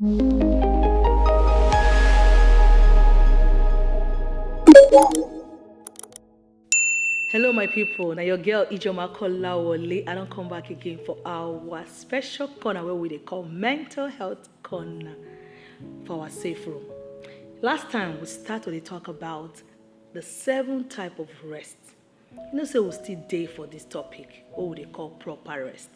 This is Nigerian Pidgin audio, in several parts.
Hello, my people. Now your girl Ijoma Kolawole. I don't come back again for our special corner where we call mental health corner for our safe room. Last time we started to talk about the seven type of rest You know say we still dey for this topic wey we dey call proper rest.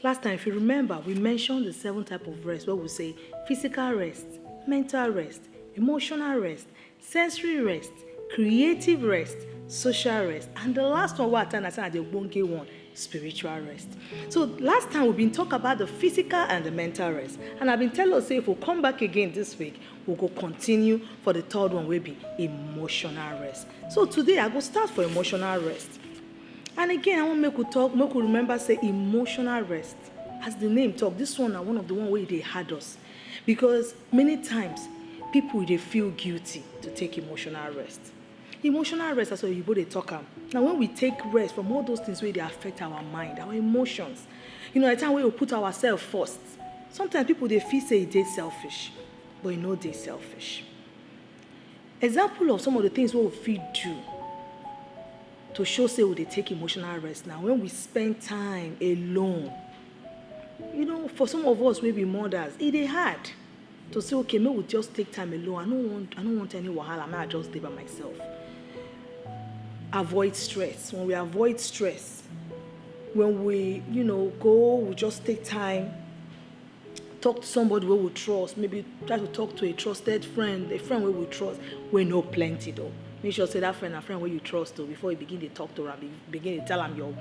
Last time if you remember we mention the seven type of rest wey we say physical rest, mental rest, emotional rest, sensory rest, creative rest, social rest and the last one wey I tell na say na the ogbonge one spiritual rest. So last time we been talk about the physical and the mental rest and I been tell us say if we come back again this week we go continue for the third one wey be emotional rest. So today I go start for emotional rest. And again, I wan make we talk, make we remember say emotional rest. As the name talk, this one na one of the one wey dey hard us because many times people dey feel guilty to take emotional rest. Emotional rest as oyibo dey talk am na when we take rest from all those things wey dey affect our mind, our emotions. You know, at time wey we put ourselves first. Sometimes people dey feel say e dey selfish, but e no dey selfish. Example of some of the things wey we fit do to show say we dey take emotional rest na when we spend time alone. You know, for some of us wey be mothers, e dey hard to say, okay, make we just take time alone. I no want, I no want any wahala. Make I just dey by myself. Avoid stress. When we avoid stress, when we, you know, go, we just take time talk to somebody wey we trust maybe try to talk to a trusted friend a friend wey we trust wey no plenty though make sure say that friend na friend wey you trust though before you begin dey talk to am begin dey tell am your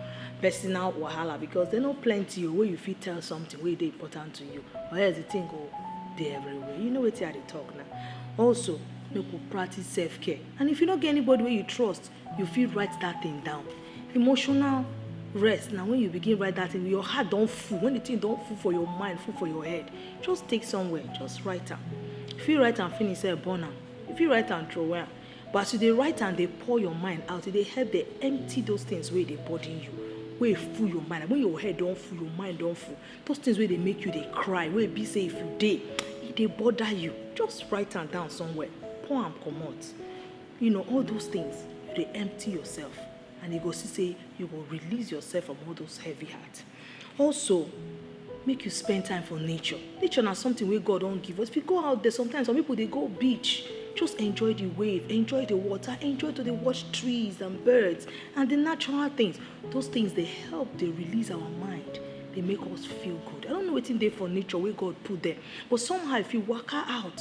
personal wahala because they no plenty o wey you fit tell something wey dey important to you or else the thing go dey everywhere you know wetin i dey talk na also make we practice self care and if you no get anybody wey you trust you fit write that thing down emotional rest na when you begin write that thing your heart don full when the thing don full for your mind full for your head just take somewhere just write am you fit write am finish sef burn am you fit write am throway am but as you dey write am dey pour your mind out e dey help dey empty those things wey dey burden you wey full your mind when your head don full your mind don full those things wey dey make you dey cry wey be say if you dey e dey bother you just write am down somewhere pour am comot You know, all those things, you dey empty yourself and you go see say you go release yourself from all those heavy heart. Also, make you spend time for nature. Nature na something wey God don give us. If you go out there, sometimes some people dey go beach, just enjoy the wave, enjoy the water, enjoy to dey watch trees and birds and the natural things. Those things dey help dey release our mind, dey make us feel good. I don't know wetin dey for nature wey God put there, but somehow if you waka out,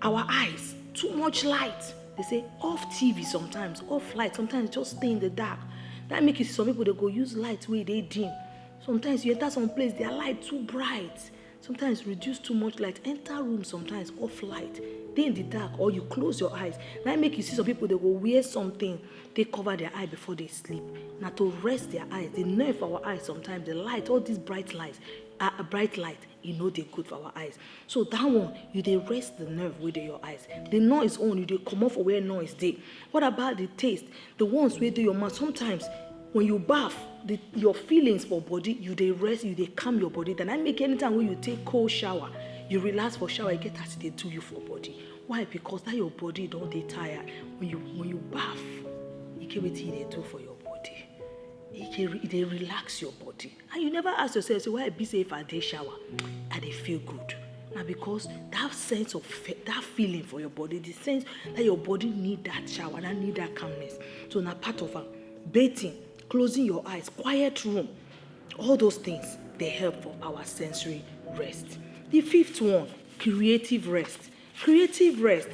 our eyes too much light they say off tv sometimes off light sometimes just stay in the dark that make you see some people dey go use light wey dey dim sometimes you enter some place their light too bright sometimes reduce too much light enter room sometimes off light dey in the dark or you close your eyes na make you see some people dey go wear something take cover their eye before they sleep na to rest their eyes the nerve for our eyes sometimes the light all these bright lights ah bright light e no dey good for our eyes so that one you dey rest the nerve wey dey your eyes the noise own you dey comot for where noise dey what about the taste the ones wey dey your mouth sometimes when you baff the your feelings for body you dey rest you dey calm your body then i make anytime wey you take cold shower you relax for shower e get as e dey do you for body why because that your body don dey tired when you when you baff e get wetin e dey do for your body e dey e dey relax your body And you never ask yourself say why e be say if I dey shower, I dey feel good? Na because that sense of that feeling for your body, the sense that your body need that shower, that need that calmness. So na part of am. Bathing, closing your eyes, quiet room, all those things dey help for our sensory rest. The fifth one, creative rest. Creative rest,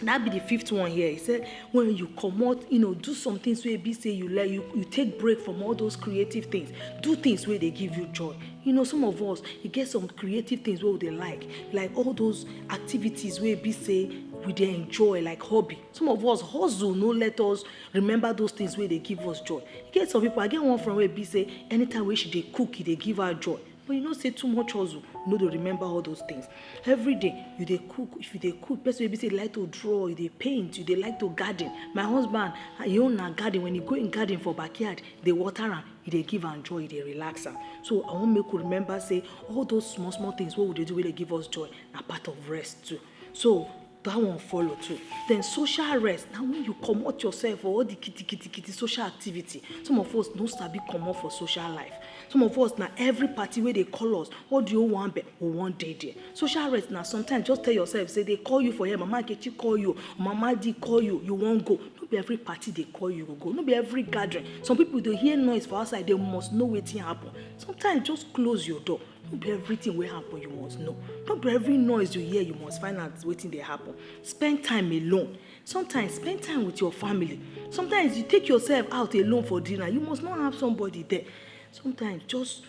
na be di fifth one here, e sey wen you comot you know do some tins wey be sey you like you take break from all dose creative tins do tins wey dey give you joy you know some of us e get some creative tins wey we dey like like all dose activities wey be sey we dey enjoy like hobby some of us hustle no let us remember dose tins wey dey give us joy e get some pipu I get one friend wey be sey anytime wey she dey cook e dey give her joy. But you know say too much hustle no dey remember all those things. Every day you dey cook, if you dey cook, person wey be say you like to draw, you dey paint, you dey like to garden. My husband, him own na garden. When he go him garden for backyard, dey water am, he dey give am joy, he dey relax am. So I wan make we remember say all those small small things wey we dey do wey dey give us joy na part of rest too. So. That one follow too. Then social rest. Now when you come out yourself for all the kitty kitty kitty social activity, some of us no sabi out for social life. Some of us now every party where they call us, what do you want be? We wan dey there. Social rest now sometimes just tell yourself say they call you for here, mama Nkechi call you, mama di call you, you wan go. No be every party they call you go. No be every gathering. Some people they hear noise for outside, they must know wetin happen. Sometimes just close your door. no be everything wey happen you must know no be every noise you hear you must find out wetin dey happen spend time alone sometimes spend time with your family sometimes you take yourself out alone for dinner you must not have somebody there sometimes just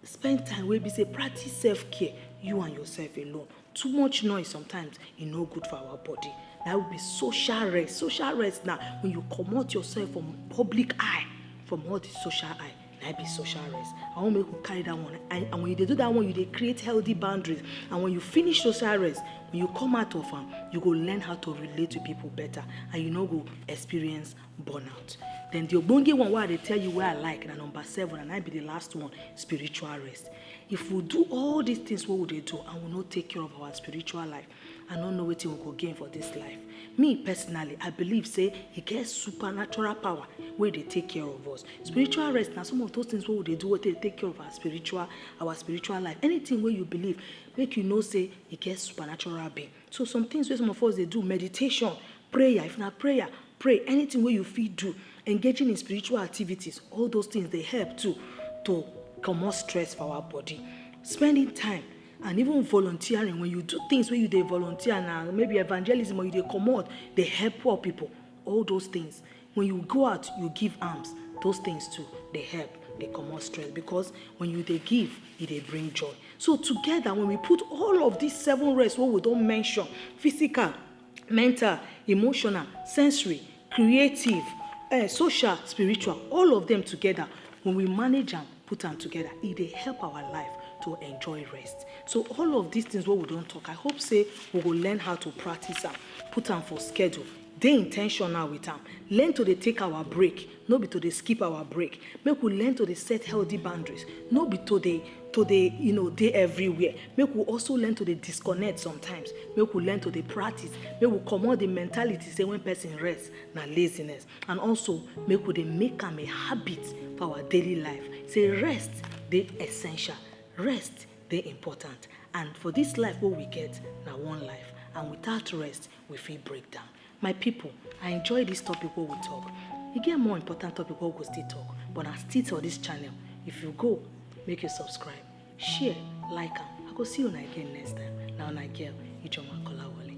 spend time wey be say practice self care you and yourself alone Too much noise sometimes e no good for our body. Na be social rest. Social rest na when you comot yourself from public eye, from all the social eye. Na be social rest. I wan make we carry that one. And, and when you dey do that one, you dey create healthy boundaries. And when you finish social rest, when you come out of am, you go learn how to relate to people better and you no go experience burnout then the ogbonge one wey i dey tell you wey i like na number seven and i be the last one spiritual rest if we do all these things wey we dey do and we no take care of our spiritual life i no know wetin we go gain for this life me personally i believe say e get supernatural power wey dey take care of us spiritual rest na some of those things wey we dey do wey dey take care of our spiritual our spiritual life anything wey you believe make you know say e get supernatural being So some things wey some of us dey do, meditation, prayer, if na prayer, pray, anything wey you fit do, engaging in spiritual activities, all those things dey help too to comot stress for our body. Spending time and even volunteering, when you do things wey you dey volunteer na, maybe evangelism or you dey comot dey help poor people, all those things When you go out, you give alms, those things too, they help, they comot stress because when you dey give, e dey bring joy. So together, when we put all of these seven rest wey we don mention, physical, mental, emotional, sensory, creative, eh, social, spiritual, all of them together, when we manage am, put am together, e dey help our life to enjoy rest. So all of these things wey we don talk, I hope say we go learn how to practice am, put am for schedule, Dey intentional with am, learn to dey take our break, no be to dey skip our break, make we learn to dey set healthy boundaries, no be to dey to dey um dey everywhere, make we also learn to dey disconnect sometimes, make we learn to dey practice, make we comot the mentality say when person rest na laziness and also make we dey make am a habit for our daily life say rest dey essential, rest dey important and for this life wey we get na one life and without rest. we fit break down. My people, I enjoy this topic where we talk. You get more important topic where we go still talk, but I still tell this channel, if you go, make you subscribe, share, like am. I go see you again next time. Now, na girl, Ijoma Kolawole.